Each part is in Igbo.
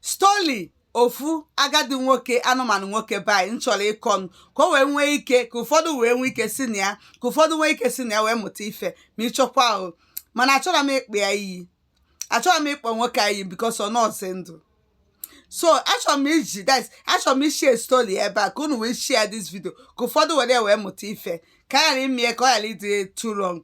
story ofu agadi nwoke anụmanụ nwoke be anyị m chọrọ ịkọnụ ka o wee nwee ike ka ụfọdụ wee nwee ike si na ya ka ụfọdụ nwee ike si na ya wee mụta ife ma ịchọkwa ahụ mana achọrọ m ịkpọ ya iyi achọrọ m ịkpọ nwoke a iyi because ọ nọọzị ndụ so achọrọ m iji this achọrọ m ịshare story ebe a ka unu wee share this video ka ụfọdụ were ya wee mụta ife ka a ghara ime ya ka ọ ghara ịdị too long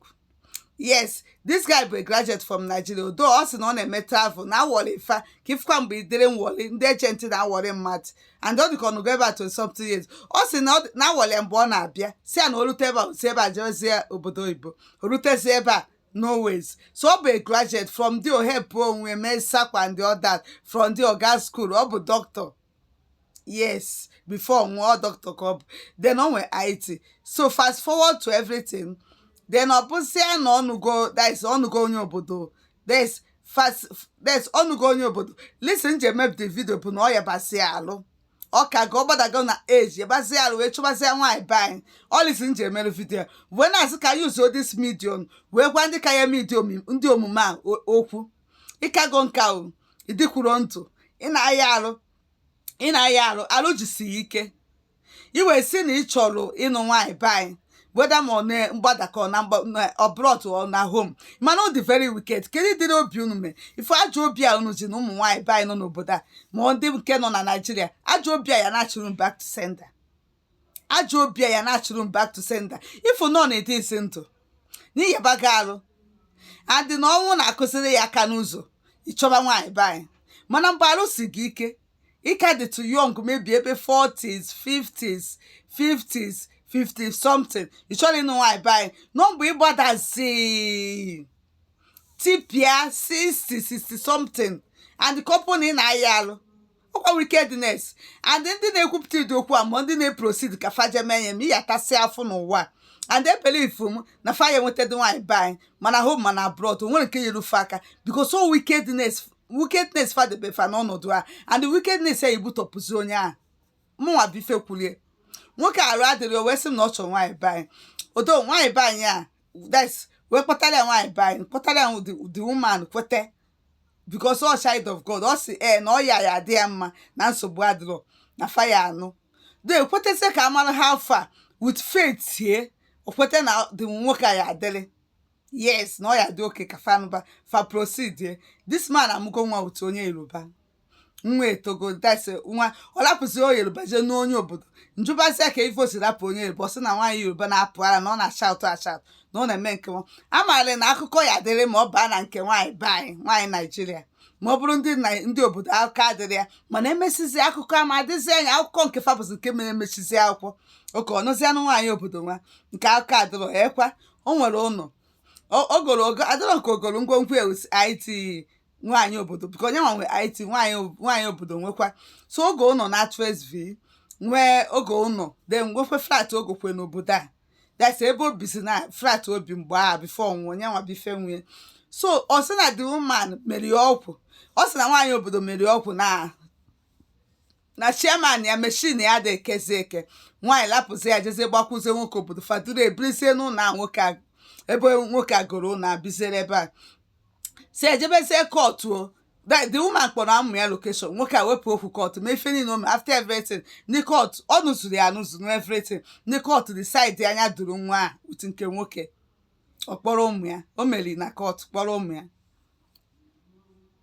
yes this guy bụ a graduate from Nigeria although ọ sị na ọ na-eme travel na a wọrị fa ka ị fụkwa mgbe idere nwọrị ndị agent na-awọrị mmadụ and ọ dịka ọ nọgo ebe a 20 something years ọ sị na ọ dị- na a wọrị ya mgbe ọ na-abịa si ya na o rute ebe a o si ebe a jezie obodo oyibo o rutezi ebe a no ways so ọ bụ a graduate from the ohepụ onwe mee sakwa and the others from the oga school ọ bụ doctor yes before ọ nwụọ doctor ka ọ bụ then ọ nwere IT so fast forward to everything then ọ bụzịa na ọ nụgo that is ọ nụgo onye obodo that is fast that is ọ nụgo onye obodo reason m ji mee the video bụ na ọ yabazị arụ ọ kago ọ gbadago na age yabazị arụ wee chọbazịa nwaanyị be anyị ọ reason m ji mere video wee na-asị ka use this medium wee gwa ndị ka ya eme ụdị omume a o- okwu ị kago nka o ị dịkwurọ ndụ ị na-aya arụ ị na-aya arụ arụ jisi ya ike i wee sị na ị chọrọ ịnụ nwaanyị be anyị whether ma ọ na mgbada ka ọ na mgba- na abroad or na home mana ọ dị very wicked kedu ụdịrị obi unu mee ife ajọ obi a unu ji na ụmụ nwaanyị be anyị nọ n'obodo a ma ọ ndị nke nọ na Nigeria ajọ obi a ya na-achụrụ m back to sender ajọ obi a ya na-achụrụ m back to sender ị fụ na ị dịzị ndụ na ị yabago arụ and na ọnwụ na-akụziri ya aka n'ụzọ ị chọba nwaanyị be anyị mana mgbe arụ si gị ike ị ka dị too young maybe ebe 40s 50s 50s 50 something ị chọrọ ịnụ nwaanyị be anyị nọ mgbe ị gbadazi tipịa 60 60 something and the couple na ị na-aya arụ ọkwa wickedness and ndị na-ekwupụta ụdị okwu a ma ndị na-eproceed ka fa je mee ya ma ị ya-atasị afụfụ n'ụwa a. and ebelieve m na fa ya enwetadị nwaanyị be anyị ma na home ma na abroad o nwere nke nyere fa aka because ọ wickedness wickedness fa debe fa n'ọnọdụ a and wickedness ya ebutọpụzi onye ahụ mụnwa bụ ife kwulie nwoke arụ adịrọ o wee sị m na ọ chọrọ nwaanyị be anyị although nwaanyị be anyị a that's wee kpọtara ya nwaanyị be anyị kpọtara ya the the woman kwete because ọ child of God ọ sị ee na ọ ya ya adị ya mma na nsogbu adịrọ na fa ya-anụ de ekwetezi ka amara ha afọ a with faith ye o kwete na the nwoke a ya adịrị yes na ọ ya-adị okay ka fa nụba fa proceed ye this man amụgo nwa otu onye Yoruba nwa etogo dasi nwa ọ lapụzi onye yoruba jee nụọ onye obodo njụbazi ya ka ife o si rapụ onye yoruba ọ sị na nwaanyị yoruba na-apụ ara na ọ na-ashaụtụ ashaụtụ na ọ na-eme nke nwa amaara na akụkọ ya dịrị ma ọ baa na nke nwaanyị be anyị nwaanyị naijiria ma ọ bụrụ ndị Nai- ndị obodo akụkọ adịrị ya mana emesizi akụkọ ama adịzi anya akụkọ nke fabụzi nke mere emechizi akwụkwọ oke ọnụzi anụ nwaanyị obodo nwa nke akụkọ adịrọ ya ekwa o nwere ụlọ O- o golo ego adịrọ nke o golo ngwongwo ewusi it nwaanyị obodo bụka onye nwa nwe it nwaanyị obodo nwekwa so o goo ụnọ na trsv nwee o goo ụnọ de nwekwe flat o gokwe n'obodo a that's ebe o bizi na flat o bi mgbe a before ọ nụọ onye nwa before e nwee so ọ sị na the woman mere ọgwụ ọ sị na nwaanyị obodo mere ọgwụ na na chairman ya machine ya adị ekezi eke nwaanyị lapụzi ya jezie gbakwuzie nwoke obodo fa duru ebirizie n'ụlọ a nwoke a ebe nwoke a goro ụlọ a biziere ebe a si ejebezie kọtụ o the the woman kpọrọ ụmụ ya location nwoke a wepụ okwu kọtụ ma ife niile o mere after everything ndị kọtụ ọ nụzuru ya anụzu na everything ndị kọtụ decide anya duru nwa a utu nke nwoke ọ kpọrọ ụmụ ya o meri na kọtụ kpọrọ ụmụ ya